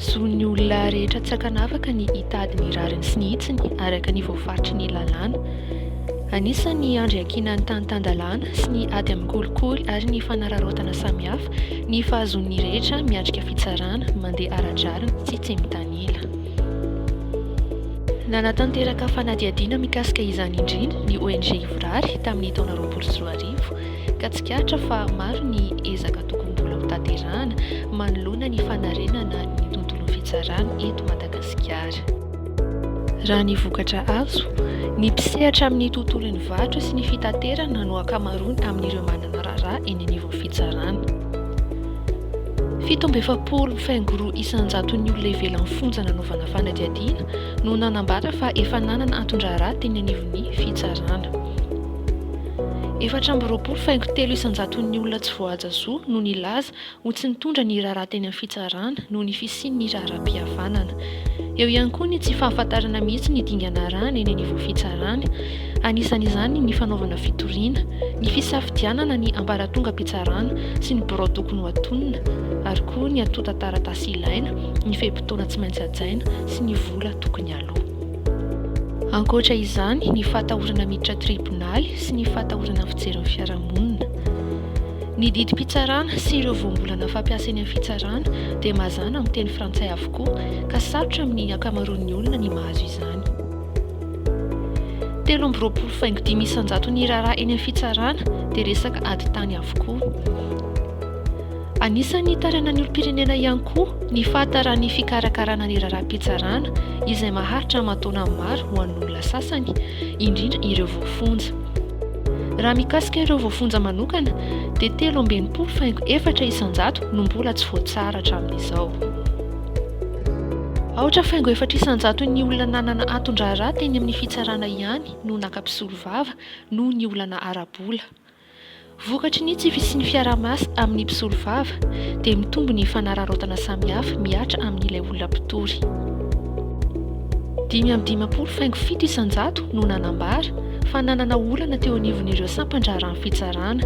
Zon'ny olona rehetra tsy ankanavaka ny hitady ny rariny sy ny hitsiny araka ny voafaritry ny lalàna. Anisan'ny handriankina ny tany tan-dalàna sy ny ady amin'ny kolikoly ary ny fanararaotana samihafa ny fahazoan'ny rehetra miatrika fitsarana mandeha ara-drariny sy tsy mitanila. Nanatanteraka fanadihadiana mikasika izany indrindra ny ONG Ivorary tamin'ny taona roapolo sy roa arivo, ka tsikaritra fa maro ny ezaka tokony mbola hotanterahana manoloana ny fanarenana ny tontolon'ny fitsarana eto Madagasikara. Raha ny vokatra azo, ny mpisehatra amin'ny tontolon'ny varotra sy ny fitaterana no ankamaroany amin'ireo manana raharaha eny anivon'ny fitsarana. Fito amby efapolo mifengoroa isan-jaton'ny olona ivelan'ny fonja nanaovana fanadihadiana no nanambara fa efa nanana anton-draharaha teny anivon'ny fitsarana. Efatra amby roapolo faingo telo isan-jaton'ny olona tsy voahaja zo no nilaza ho tsy nitondra ny raharaha teny amin'ny fitsarana noho ny fisian'ny raharaham-pihavanana. Eo ihany koa ny tsy fahafantarana mihitsy ny dingana arahana eny anivon'ny fitsarana. Anisan'izany ny fanaovana fitoriana, ny fisafidianana ny ambaratongam-pitsarana sy ny birao tokony ho atonina, ary koa ny antontan-taratasy ilaina, ny fe-potoana tsy maintsy hajaina sy ny vola tokony haloa. Ankoatra izany, ny fahatahorana miditra tribonaly sy ny fahatahorana ny fijerin'ny fiarahamonina. Ny didim-pitsarana sy ireo voambolana fampiasa eny amin'ny fitsarana dia mazàna amin'ny teny frantsay avokoa, ka sarotra amin'ny ankamaroan'ny olona ny mahazo izany. Telo amby roapolo faingo dimy isan-jato ny raharaha eny amin'ny fitsarana dia resaka ady tany avokoa. Anisan'ny nitarainan'ny olom-pirenena ihany koa ny fahataran'ny fikarakarana ny raharaham-pitsarana izay maharitra aman-taonany maro ho an'ny olona sasany, indrindra ireo voafonja. Raha mikasika ireo voafonja manokana dia telo amby enimpolo faingo efatra isan-jato no mbola tsy voatsara hatramin'izao. Aotra faingo efatra isan-jaton'ny olona nanana anton-draharaha teny amin'ny fitsarana ihany no naka mpisolovava noho ny olana ara-bola. Vokatry ny tsy fisian'ny fiaraha-miasa amin'ny mpisolovava dia mitombo ny fanararaotana samihafa mihatra amin'ilay olona mpitory. Dimy amby dimampolo faingo fito isan-jato no nanambara fa nanana olana teo anivon'ireo sampan-draharahan'ny fitsarana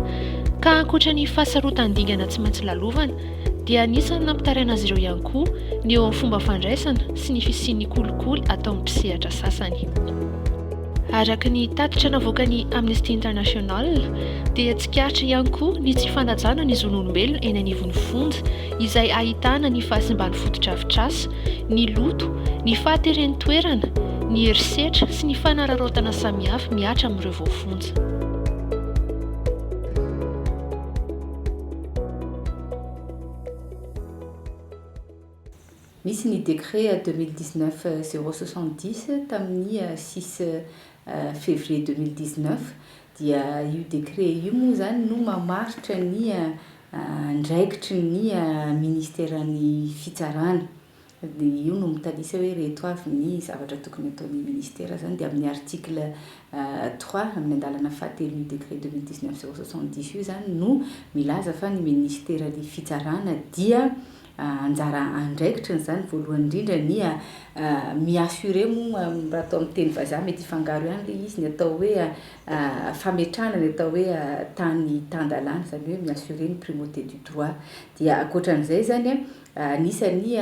ka ankoatra ny fahasarotan-dingana tsy maintsy lalovana dia anisan'ny nampitaraina azy ireo ihany koa ny eo amin'ny fomba fandraisana sy ny fisian'ny kolikoly ataon'ny mpisehatra sasany. Araka ny tatitra navoakan'ny Amnesty International dia tsikaritra ihany koa ny tsy fanajana ny zon'olombelona eny anivon'ny fonja izay ahitana ny fahasimban'ny fotodrafitrasa, ny loto, ny fahateren'ny toerana, ny herisetra sy ny fanararaotana samihafa mihatra amin'ireo voafonja. Nisy ny décret deux mille dix neuf zéro soixante dix tamin'ny six février deux mille dix neuf dia io décret io moa izany no mamaritra ny andraikitry ny ministeran'ny fitsarana. dia io no mitanisa hoe ireto avy ny zavatra tokony hataon'ny Ministera izany dia amin'ny article trois amin'ny andalana fahatelo io décret deux mille dix neuf zéro soixante dix io izany no milaza fa ny Ministeran'ny Fitsarana dia anjara andraikitriny izany voalohany indrindra ny mi-assurer moa raha atao amin'ny teny vazaha mety hifangaro ihany ilay izy, ny atao hoe fametrahana ny atao hoe tany tan-dalàna izany hoe mi-assurer ny primauté du droit dia ankoatra an'izay izany an, Anisan'ny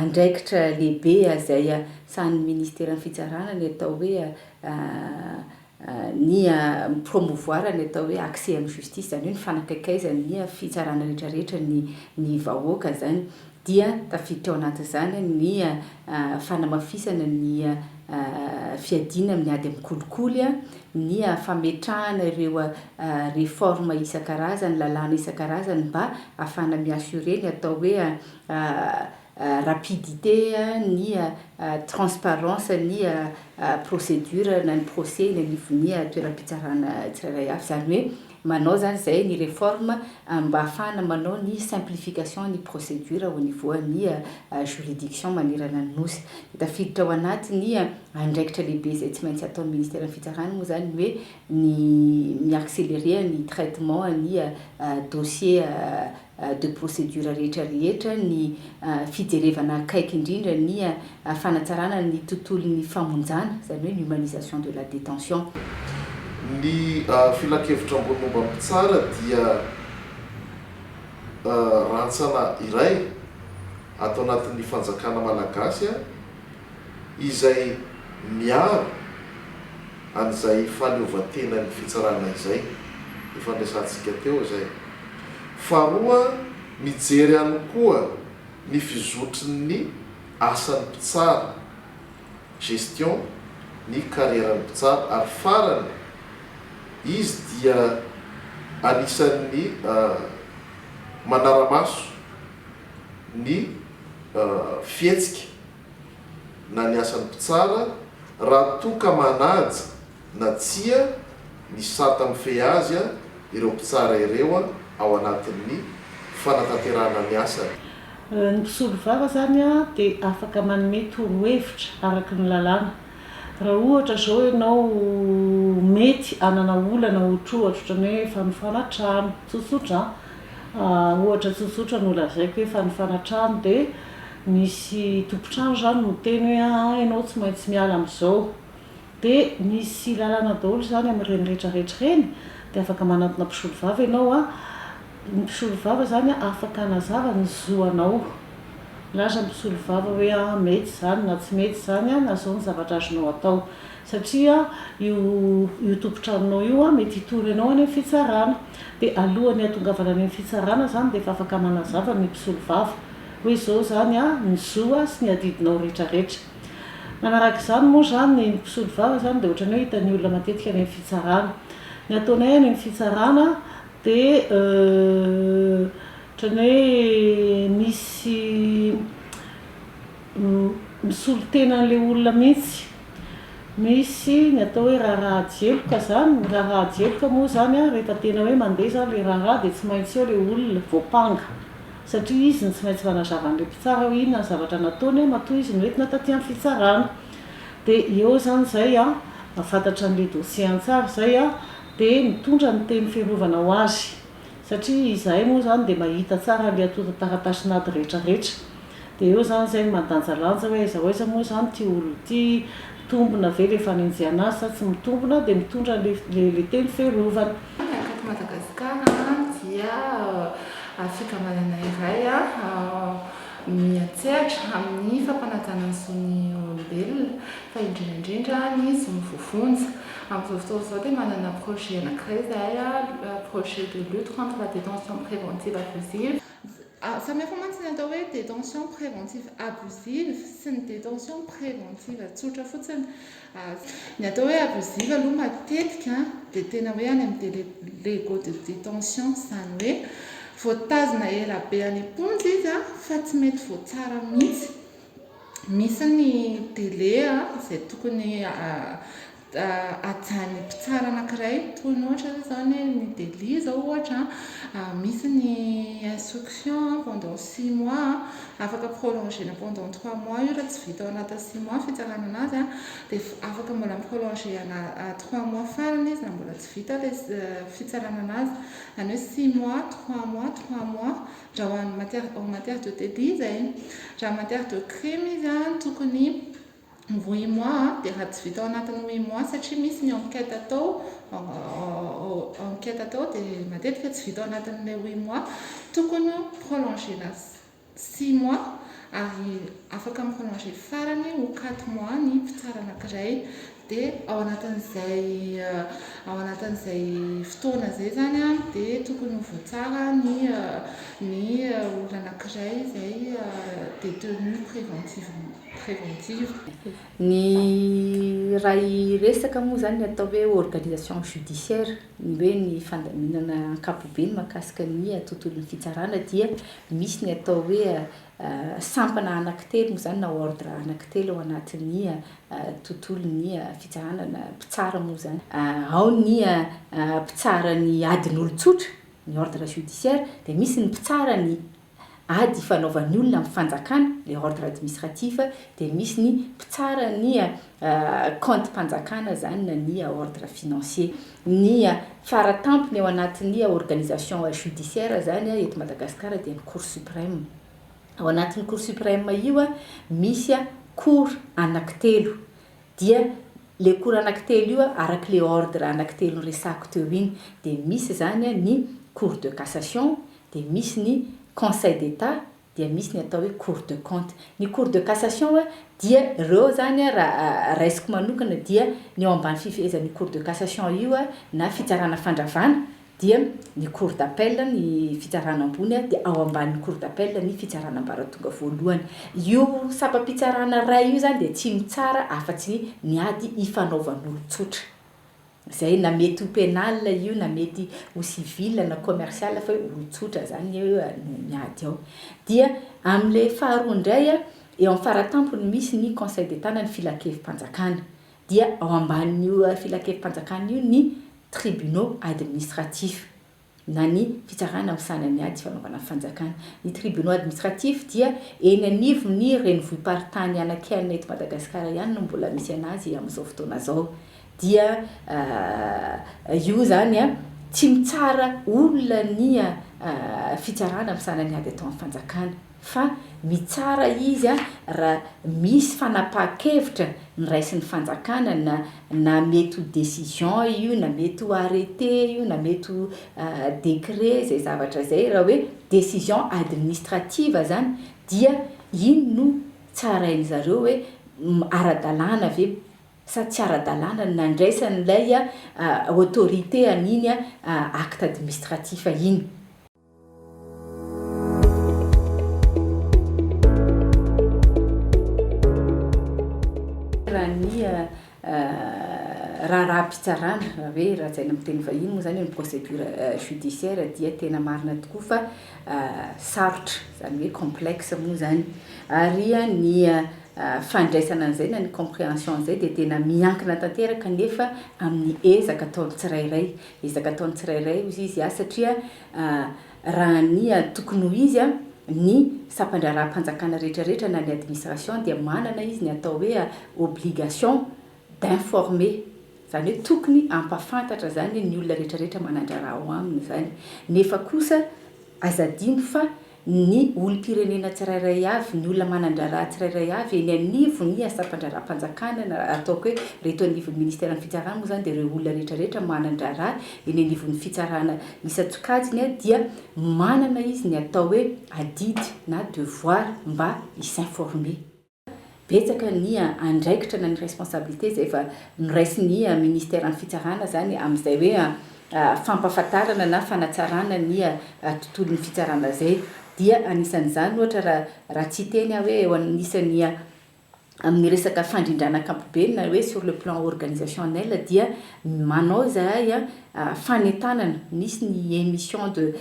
andraikitra lehibe izay sahanin'ny Ministeran'ny Fitsarana ny atao hoe ny mi-promouvoir ny atao hoe accès amin'ny justice, izany hoe ny fanakaikaizan'ny fitsarana rehetra rehetra ny vahoaka izany, dia tafiditra ao anatin'izany ny fanamafisana ny fiadiana amin'ny ady amin'ny kolikoly, ny fametrahana ireo réformes isan-karazany, lalàna isan-karazany mba hahafahana mi-assurer ny atao hoe rapidité, ny transparence ny procédure na ny procès eny anivon'ny toeram-pitsarana tsirairay avy, izany hoe. manao zany zay ny reforme mba hahafahana manao ny simplification ny procedure au niveau an'ny juridiction manerana ny Nosy. Tafiditra ao anatin'ny andraikitra lehibe izay tsy maintsy ataon'ny ministeran'ny fitsarana moa zany ny hoe ny mi-accelerer ny traitement an'ny dossier de procédure rehetra rehetra, ny fijerevana akaiky indrindra ny fanatsarana ny tontolon'ny famonjana, izany hoe ny humanisation de la détention. Ny filankevitra ambony momba ny mpitsara dia rantsana iray ato anatin'ny fanjakana malagasy, izay miaro an'izay fahaleovantenan'ny fitsarana izay, efa niresahantsika teo izay. Faharoa, mijery ihany koa ny fizotrin'ny asan'ny mpitsara, gestion, ny karieran'ny mpitsara, ary farany, izy dia anisan'ny manara-maso. ny fihetsika na ny asan'ny mpitsara raha toa ka manaja na tsia ny sata mifehy azy ireo mpitsara ireo ao anatin'ny fanatanterahana ny asany. Ny mpisolovava izany dia afaka manome torohevitra araka ny lalàna Raha ohatra zao ianao mety hanana olana ohatrohatro ohatran'ny hoe fanofana trano, tsotsotra an, ohatra tsotsotra no lazaiko hoe fanofana trano de misy tompon-trano zany miteny hoe aa ianao tsy maintsy miala am'zao de misy lalana daholo zany amin'ireny retraretra ireny de afaka manantona mpisolovava ianao an, Ny mpisolovava izany afaka hanazava ny zo anao. Milaza ny mpisolovava hoe mety izany na tsy mety izany na izao ny zavatra azonao atao. Satria io tompon-tranonao io mety hitory anao any amin'ny fitsarana. Dia alohan'ny hahatongavana any amin'ny fitsarana izany dia efa afaka manazava ny mpisolovava hoe izao izany ny zo sy ny adidinao rehetrarehetra. Manaraka izany moa izany ny mpisolovava izany dia ohatran'ny hoe hitan'ny olona matetika any amin'ny fitsarana. Ny ataonay any amin'ny fitsarana. Dia ohatran'ny hoe misy misolo tena an'ilay olona mihitsy. Misy ny atao hoe raharaha jeloka izany. Ny raharaha jeloka moa izany an, rehefa tena hoe mandeha izany ilay raharaha dia tsy maintsy eo ilay olona voampanga. Satria izy no tsy maintsy manazava an'ilay mpitsara hoe inona ny zavatra nataony matoa izy no entina taty amin'ny fitsarana. Dia eo izany izay an, mahafantatra an'ilay dossier an-tsary izay an. dia mitondra ny teny fiarovana ho azy, satria izahay moa izany dia mahita tsara ilay antontan-taratasin'ady rehetra rehetra, dia eo izany izay ny mandanjalanja hoe aiza ho aiza moa izany ity olona ity, mitombina ve ilay fanenjehana azy sa tsy mitombina, dia mitondra ilay teny fiarovana. Raha eto Madagasikara dia fikambanana iray. miha-tsehatra amin'ny fampanajana ny zon'ny olombelona, fa indrindra indrindra ny zon'ny voavonjy. Amin'izao fotoana izao dia manana projet anankiray izahay, projet de lutte contre la détention préventive abusive. Samy hafa mantsy ny atao hoe détention préventive abusive sy ny détention préventive tsotra fotsiny. Ny atao hoe abusive aloha matetika dia tena hoe any amin'ny delego de detention, izany hoe voatazona ela be any am-ponja izy fa tsy mety voatsara mihitsy. Misy ny delai izay tokony hajan'ny mpitsara anankiray, toy ny ohatra izany hoe ny delit izao ohatra, misy ny instruction pendant six mois. Afaka prolongena pendant trois mois io raha tsy vita ao anatin'ny six mois fitsarana anazy dia afaka mbola mi prolongena trois mois farany izy raha mbola tsy vita ilay fitsarana anazy izany hoe six mois trois mois trois mois raha ho an'ny matière en matière de débit izay raha matière de crime izy tokony ny huit mois dia raha tsy vita ao anatin'ny huit mois satria misy ny enquête atao enquête atao dia matetika tsy vita ao anatin'ilay huit mois tokony prolongena six mois ary afaka mi-prolonger farany ho quatre mois ny mpitsara anankiray dia ao anatin'izay ao anatin'izay fotoana izay izany a dia tokony ho voatsara ny ny olona anankiray izay détenu préventivement préventive. Ny iray resaka moa izany ny atao hoe organisation judiciaire, ny hoe ny fandaminana ankapobeny mahakasika ny tontolon'ny fitsarana dia misy ny atao hoe sampana anankitelo moa izany na ordre anankitelo ao anatin'ny tontolon'ny fitsarana na mpitsara moa izany. Ao ny mpitsara ny adin'olon-tsotra, ny ordre judiciaire, dia misy ny mpitsara ny ady ifanaovan'ny olona amin'ny fanjakana, les ordres administratifs, dia misy ny mpitsara ny kaontim-panjakana zany na ny ordres financiers. Ny fara tampony ao anatin'ny organisation judiciaire zany eto Madagasikara dia ny Cour supreme. Ao anatin'ny Cour supreme io misy cour anankitelo, dia le cour anankitelo io araky le ordre anankitelo niresahako teo iny dia misy zany ny cour de cassation, dia misy ny Conseil d'Etat, dia misy ny atao hoe Cour de compte. Ny Cour de cassation dia ireo zany raha raisiko manokana dia ny ao ambany fifehezan'io Cour de cassation io na fitsarana fandravana dia ny Cour d'appel ny fitsarana ambony dia ao ambanin'ny Cour d'appel ny fitsarana ambaratonga voalohany. Io sampam-pitsarana iray io zany dia tsy mitsara afa-tsy ny ady ifanaovan'olon-tsotra. Zay na mety ho penal io na mety ho civil na commercial fa hoe olon-tsotra zany anie hoe no miady ao. Dia amin'ilay faharoa indray a, eo amin'ny faratampony misy ny conseil d'état na ny filankevi-panjakana. Dia ao ambanin'io filankevi-panjakana io ny tribunaux administratifs. na ny Fitsarana misahana ny Ady sy Fanaovana Fanjakana. Ny Tribunaux Administratifs dia eny anivon' ny renivohi-paritany anankianina eto Madagasikara ihany no mbola misy an' azy amin' izao fotoana izao. Dia io izany tsy mitsara olona ny Fitsarana misahana ny Ady atao amin' ny Fanjakana. fa mitsara izy raha misy fanapahan-kevitra noraisin'ny fanjakana na na mety ho décision io na mety ho arrêté io na mety ho décret izay zavatra izay raha hoe décision administrative izany dia iny no tsarain-dry zareo hoe ara-dalàna ve sa tsy ara-dalàna ny nandraisan'ilay autorité an'iny acte administratif iny. Raha ny raharaham-pitsarana, raha hoe lazaina amin'ny teny vahiny moa izany hoe ny procédure judiciaire dia tena marina tokoa fa sarotra, izany hoe complexe moa izany. Ary ny fandraisana an'izay na ny comprehension an'izay dia tena miankina tanteraka anefa amin'ny ezaka ataon'ny tsirairay. Ezaka ataon'ny tsirairay hoy izy aho satria raha ny tokony ho izy ny sampandraharaham-panjakana rehetra rehetra na ny administration dia manana izy ny atao hoe obligation d'informer izany hoe tokony hampafantatra izany ny olona rehetra rehetra manandraraha ao aminy izany nefa kosa aza adino fa ny olom-pirenena tsirairay avy, ny olona manan-draharaha tsirairay avy eny anivon'ny asam-pandraharaham-panjakana na ataoko hoe re eto anivon'ny ministeran'ny fitsarana moa izany dia ireo olona rehetra rehetra manan-draharaha eny anivon'ny fitsarana isan-tsokajiny dia manana izy ny atao hoe adidy na devoir mba hi-s'informer. betsaka ny andraikitra na ny responsabilité izay efa noraisin'ny ministeran'ny fitsarana izany amin'izay hoe fampahafantarana na fanatsarana ny tontolon'ny fitsarana izay dia anisan'izany ohatra raha raha tsy hiteny aho hoe eo anisan'ny amin'ny resaka fandrindrana ankapobe na hoe sur le plan organisationnel dia manao izahay fanentanana misy ny emission de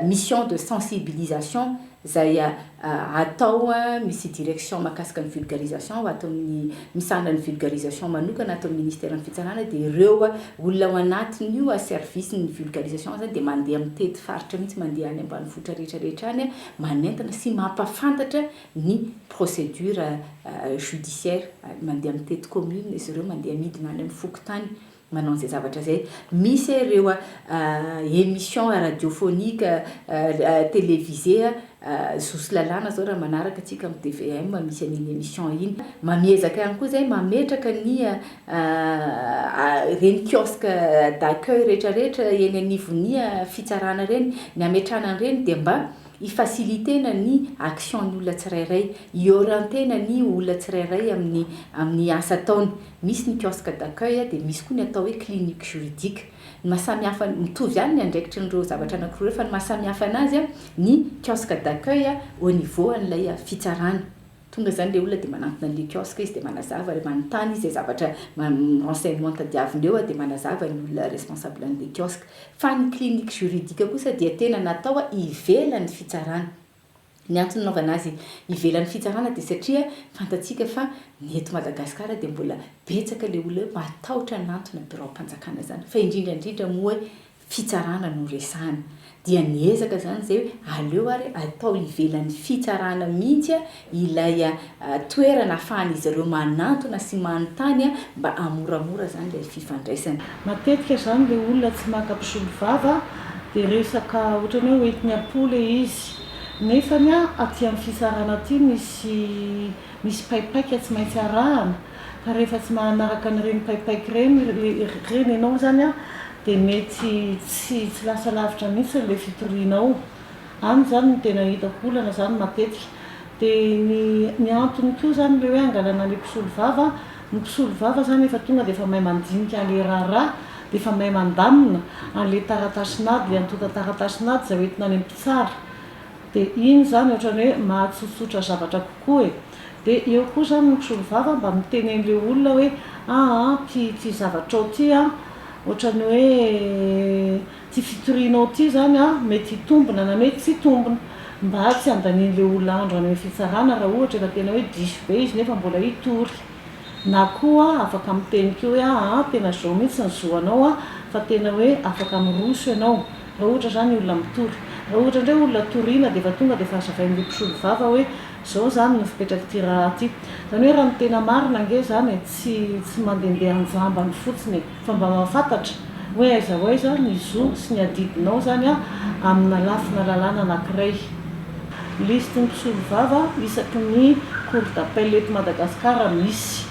mission de sensibilisation izay atao misy direction mahakasika ny vulgarisation ho ato amin'ny misahana ny vulgarisation manokana ato amin'ny ministeran'ny fitsarana dia ireo olona ao anatin'io service ny vulgarisation izany dia mandeha mitety faritra mihitsy mandeha any ambanivohitra rehetra rehetra any manentana sy mampafantatra ny procédure judiciaire mandeha mitety commune izy ireo mandeha midina any amin'ny fokontany manao izay zavatra izay misy eh ireo a emission radiophonique a televisé a zosy lalàna zao raha manaraka tsika am tvm misy an'iny emission iny mamiezaka ihany koa zay mametraka ny a reny kiosque d'accueil retraretra eny anivon'ny a fitsarana reny ny ametrana an'ireny dia mba Hi-faciliter-na ny action-ny olona tsirairay, hi-orienter-na ny olona tsirairay amin'ny amin'ny asa ataony. Misy ny kiosque d'accueil dia misy koa ny atao hoe clinique juridique. Ny maha samy hafa an, mitovy ihany ny andraikitry an'ireo zavatra anankiroa ireo fa ny maha samy hafa anazy an, ny kiosque d'accueil au niveau an'ilay fitsarana. Tonga izany ilay olona dia manantona an'ilay kiosque izy dia manazava ary manontany izay zavatra renseignement tadiaviny eo dia manazava ny olona responsable an'ilay kiosque. Fa ny clinique juridique kosa dia tena natao ivelan'ny fitsarana. Ny antony nanaovana azy ivelan'ny fitsarana dia satria fantatsika fa ny eto Madagasikara dia mbola betsaka ilay olona hoe matahotra hanantona biraom-panjakana izany fa indrindra indrindra moa hoe fitsarana no resahana dia niezaka zany zay hoe aleo ary atao ivelan'ny fitsarana mihitsy ilay toerana afahan'izy ireo manantona sy manontany mba hamoramora zany ilay fifandraisana. Matetika zany le olona tsy maka mpisolovava de resaka otrany hoe hoentiny am-po le izy nefany aty amin'ny fitsarana aty misy misy paipaika tsy maintsy arahana Fa rehefa tsy mahanaraka an'ireny paipaika ireny ireny ianao izany an, dia mety tsy tsy lasa lavitra mihitsy ilay fitorianao. Any izany no tena hitako olana izany matetika. Dia ny ny antony koa izany ilay hoe angalana ilay mpisolo vava an, ny mpisolo vava izany efa tonga dia efa mahay mandinika an'ilay raharaha, dia efa mahay mandamina an'ilay taratasin'ady, ilay antontan-taratasin'ady izay hoentina any amin'ny mpitsara. De iny zany otrany hoe mahatsotsotra zavatra kokoa e! De eo koa zany ny mpisolovava mba miteneny le olona hoe aa ty ty zavatrao ty an, otrany hoe ty fitorianao ty zany an mety hitombina na mety tsy hitombina, mba tsy handanianle olona andro any am fitsarana raha ohatra efa tena hoe diso be izy nefa mbola hitory. Na koa afaka miteny koa hoe aa tena zao mihitsy ny zo anao a, fa tena hoe afaka miroso ianao raha ohatra zany ny olona mitory. Raha ohatra indray olona toriana dia efa tonga dia efa hazavain'ilay mpisolo vava hoe zao zany ny fipetrak'ity raha ty. Zany hoe raha ny tena marina ange zany e, tsy tsy mandendeha an-jambany fotsiny e. Fa mba mahafantatra hoe aiza ho aiza ny zo sy ny adidinao izany amina lafina lalàna anankiray. Lisitry ny mpisolovava isaky ny Cour d'appel eto Madagasikara misy.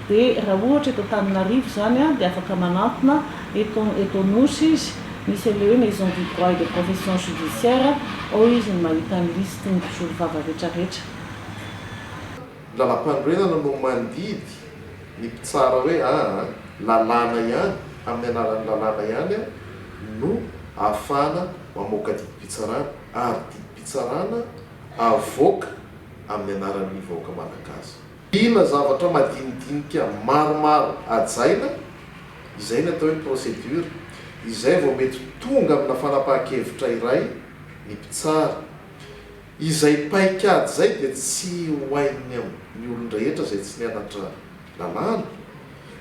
Dia raha ohatra eto Antananarivo izany dia afaka manantona eto eto Anosy izy, misy an'ilay hoe Maison du droit et des professions judiciaires, ao izy no mahita ny lisitry ny mpisolovava rehetrarehetra. Ny lalampanorenana no mandidy ny mpitsara hoe aa lalàna ihany, amin'ny alalan'ny lalàna ihany no ahafahana mamoaka didim-pitsarana ary didim-pitsarana avoaka amin'ny anaran'ny vahoaka malagasy. Mila zavatra madinidinika maromaro hajaina, izay ny atao hoe procédure, izay vao mety tonga amina fanapahan-kevitra iray ny mpitsara. Izay paikady izay dia tsy ho hain'ny amin'ny olon-drehetra izay tsy nianatra lalàna,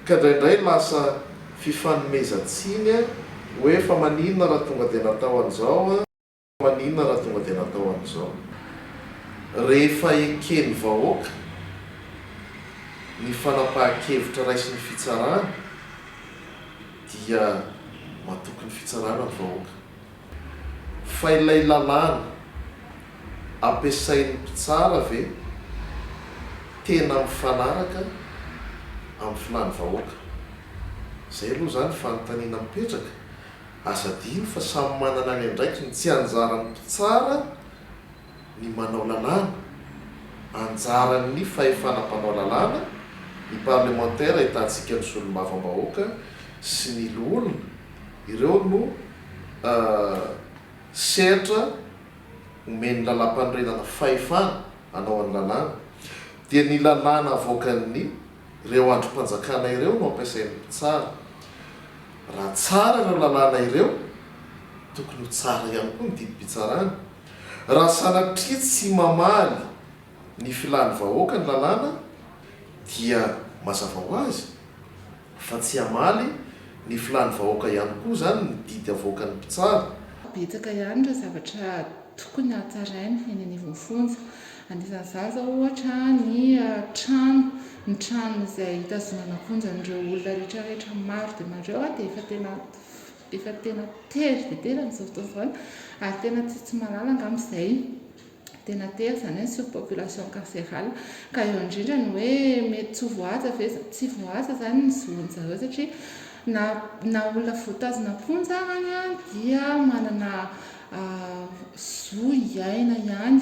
ka indraindray lasa fifanomezan-tsiny hoe fa maninona raha tonga dia natao an'izao, fa maninona raha tonga dia natao an'izao. Rehefa eken'ny vahoaka ny fanapahan-kevitra raisin'ny fitsarana dia matoky ny fitsarana ny vahoaka. Fa ilay lalàna ampiasain'ny mpitsara ve tena mifanaraka amin'ny filàn'ny vahoaka? Izay aloha izany fanontaniana mipetraka. Aza adino fa samy manana ny andraikiny, tsy anjaran'ny mpitsara. ny manao lalàna, anjaran'ny fahefana mpanao lalàna, ny parlemantera ahitantsika ny solombavambahoaka sy ny loholona, ireo no sehatra omen'ny lalàmpanorenana fahefana hanao ny lalàna, dia ny lalàna avoakan'ny ireo andrim-panjakana ireo no ampiasain'ny mpitsara. Raha tsara ireo lalàna ireo, tokony ho tsara ihany koa ny didim-pitsarana. Raha sanatria tsy mamaly ny filan'ny vahoaka ny lalàna dia mazava ho azy fa tsy hamaly ny filan'ny vahoaka ihany koa izany ny didy avoakan'ny mpitsara. Betsaka ihany ireo zavatra tokony hatsaraina eny anivon'ny fonja. Anisan'izany izao ohatra ny trano, ny trano izay hitazonana am-ponja an'ireo olona rehetrarehetra maro dia maro ireo dia efa tena efa tena tery dia tery amin'izao fotoana izao an, ary tena tsy tsy mahalala angamba izay tena tery izany hoe ny surpopulation carcérale, ka eo indrindra ny hoe mety tsy ho voahaja ve izany, tsy voahaja izany ny zon'ny zareo satria na na olona voatazona am-ponja arany dia manana zo hiaina ihany,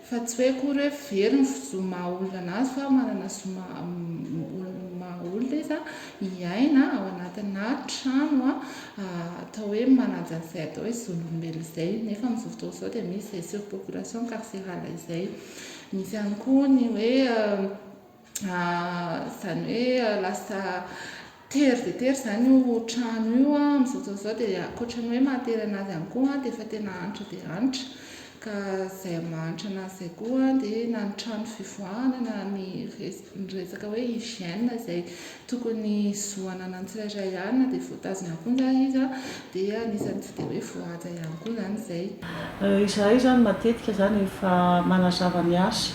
Fa tsy hoe akory hoe very ny zo maha olona anazy fa manana zo maha olona maha olona izy an, hiaina ao anatina trano an atao hoe manaja an'izay atao hoe zon'olombelona izay nefa amin'izao fotoana izao dia misy izay surpopulation carcérale izay. Misy ihany koa ny hoe izany hoe lasa tery dia tery izany io trano io amin'izao fotoana izao dia ankoatra ny hoe mahatery an'azy ihany koa dia efa tena hanitra dia hanitra ka izay mahantra an'azy izay koa dia na ny trano fivoahana na ny resaka hoe hygiène izay tokony zo ananan'ny tsirairay ihany na dia voatazona ihany koa ndray izy dia anisan'ny tsy dia hoe voahaja ihany koa izany izay. Izahay izany matetika izany rehefa manazava ny asa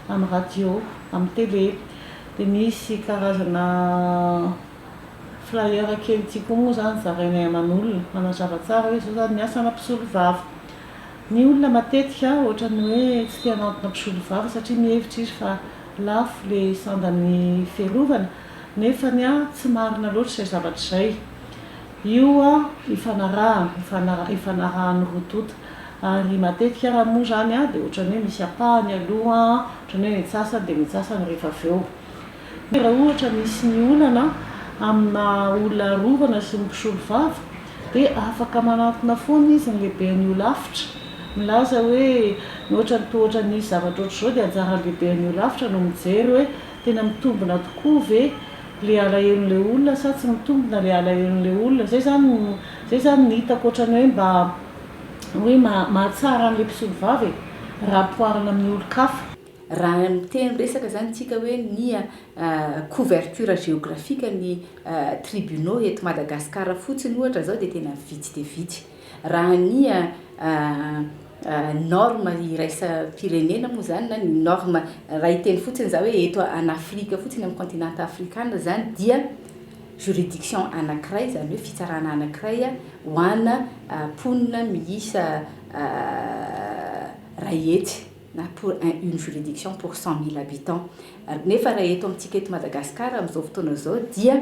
amin'ny radio, amin'ny tele dia misy karazana flyer kely ity koa moa izany zarainay aman'olona manazava tsara hoe izao izany ny asana mpisolovava Ny olona matetika ohatran'ny hoe tsy te hanantona mpisolovava satria mihevitra izy fa lafo le sandan'ny fiarovana nefany tsy marina loatra izay zavatra izay. Io ifanarahana, ifanarahan'ny roa tonta ary matetika raha moa izany dia ohatran'ny hoe misy ampahany aloha, ohatran'ny hoe ny antsasany dia ny antsasany rehefa avy eo. Raha ohatra misy ny olana amina olona arovana sy ny mpisolovava dia afaka manantona foana izy ny lehiben'ny holafitra, milaza hoe mihoatra ny tohotra ny zavatra ohatr'izao dia anjaran'ny lehiben'ny holafitra no mijery hoe tena mitombina tokoa ve ilay alahelon'ilay olona sa tsy mitombina ilay alahelon'ilay olona. Izay izany izay izany ny hitako ohatran'ny hoe mba hoe mahatsara an'ilay mpisolovava e, raha ampihoarina amin'ny olon-kafa. Raha miteny resaka izany isika hoe ny couverture géographique ny tribunaux eto Madagascar fotsiny ohatra izao dia tena vitsy dia vitsy. Raha ny norme iraisam-pirenena moa izany na ny norme, raha hiteny fotsiny izaho hoe eto an'Afrika fotsiny amin'ny continent afrikana izany dia juridiction anankiray izany hoe fitsarana anankiray ho ana mponina miisa iray hetsy. na pour un une juridiction pour cent mille habitants ary nefa raha eto amintsika eto Madagascar amin'izao fotoana izao dia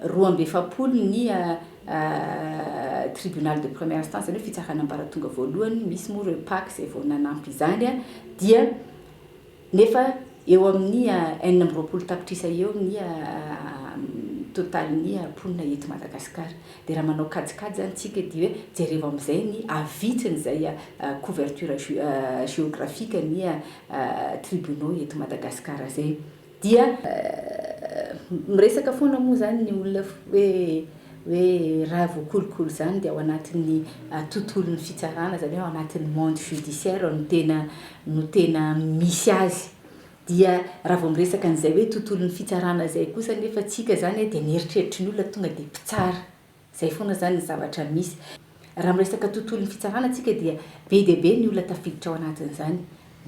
roa amby efapolo ny tribunal de première instance izany hoe fitsarana ambaratonga voalohany, misy moa ireo pac izay vao nanampy izany dia nefa eo amin'ny enina amby roapolo tapitrisa eo ny total ny mponina eto Madagascar. Dia raha manao kajikajy izany tsika dia jereo amin'izay ny avitsiny izay couverture géographique ny tribunaux eto Madagascar izay dia miresaka foana moa izany ny olona hoe hoe raha voakolokolo izany dia ao anatin'ny tontolon'ny fitsarana izany hoe ao anatin'ny monde judiciaire no tena no tena misy azy Dia raha vao miresaka an'izay hoe tontolon'ny fitsarana izay kosa anefa tsika izany dia ny eritreritry ny olona tonga dia mpitsara. Izay foana izany ny zavatra misy. Raha miresaka tontolon'ny fitsarana tsika dia be dia be ny olona tafiditra ao anatin'izany.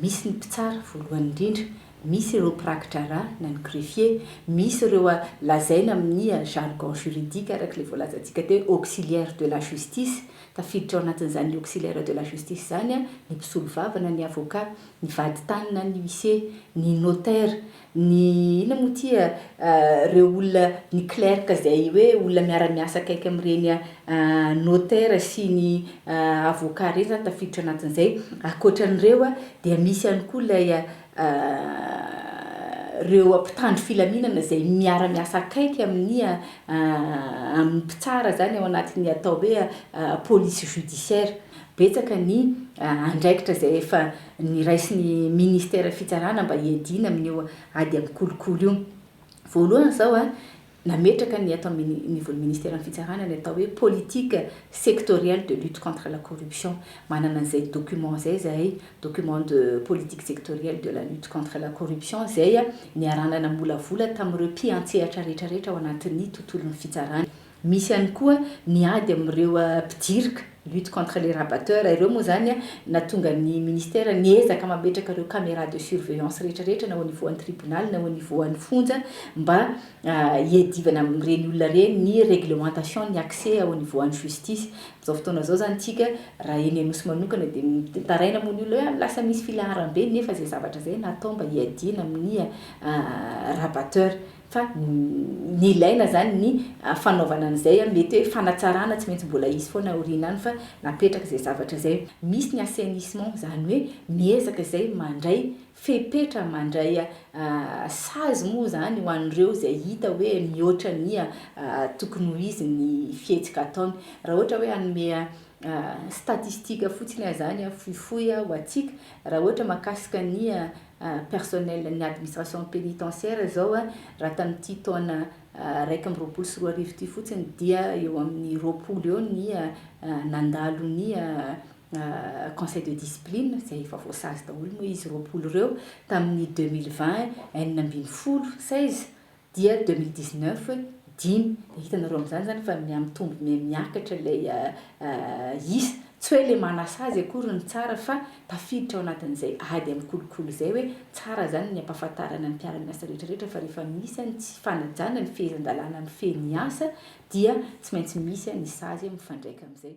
Misy ny mpitsara voalohany indrindra, misy ireo mpirakidrara na ny greffier, misy ireo lazaina amin'ny jargon juridique araka ilay voalazantsika teo auxiliaire de la justice, tafiditra ao anatin'izany auxiliaire de la justice izany ny mpisolovava na ny avocat. ny vaditany na ny huissier, ny notaire, ny inona moa ity a, ireo olona, ny clerc izay hoe olona miara-miasa akaiky amin'ireny notaire sy ny avocat ireny izany tafiditra anatin'izay. Ankoatra an'ireo dia misy ihany koa ilay ireo mpitandro filaminana izay miara-miasa akaiky amin'ny amin'ny mpitsara izany ao anatin'ny atao hoe police judiciaire. Betsaka ny andraikitra izay efa niraisin'ny Minisiteran'ny Fitsarana mba hiadiana amin'io ady amin'ny kolikoly io. Voalohany izao, nametraka ny ato amin'ny nivon'ny Minisiteran'ny Fitsarana ny atao hoe politique sectorielle de lutte contre la corruption. Manana an'izay document izay izahay, document de politique sectorielle de la lutte contre la corruption, izay niarahana namolavola tamin'ireo mpiantsehatra rehetra rehetra ao anatin'ny tontolon'ny fitsarana. Misy ihany koa ny ady amin'ireo mpidirika, lutte contre les rabatteurs, ireo moa izany nahatonga ny Ministera niezaka mametraka ireo caméras de surveillance rehetra rehetra na au niveau an'ny tribonaly na au niveau an'ny fonja mba hiadivana amin'ireny olona ireny ny réglementation ny accès au niveau an'ny justice. Amin'izao fotoana izao izany tsika raha eny Anosy manokana dia mitaraina moa ny olona hoe any lasa misy filaharam-be nefa izay zavatra izay natao mba hiadiana amin'ny rabatteurs. fa ny ilaina izany ny fanaovana an'izay mety hoe fanatsarana tsy maintsy mbola hisy foana aoriana any fa napetraka izay zavatra izay misy ny assainissement izany hoe miezaka izay mandray fepetra mandray sazy moa izany ho an'ireo izay hita hoe mihoatra ny tokony ho izy ny fihetsika ataony. Raha ohatra hoe hanome statistique fotsiny aho izany fohifohy ho antsika raha ohatra makasika ny personnel-n'ny administration pénitentiaire izao raha tamin'ity taona iraika amby roapolo sy roa arivo ity fotsiny dia eo amin'ny roapolo eo ny nandalo ny conseil de discipline izay efa voasazy daholo moa izy roapolo ireo, tamin'ny deux mille vingt enina ambin'ny folo, seize, Dia 2019 dimy, dia hitanareo amin'izany izany fa mihamitombo mihamiakatra ilay isa, tsy hoe ilay manasazy akory no tsara fa tafiditra ao anatin'izay ady amin'ny kolikoly izay hoe tsara izany ny hampahafantarana ny mpiara-miasa rehetrarehetra fa rehefa misy ny tsy fanajana ny fehezan-dalàna mifehy ny asa dia tsy maintsy misy ny sazy mifandraika amin'izay.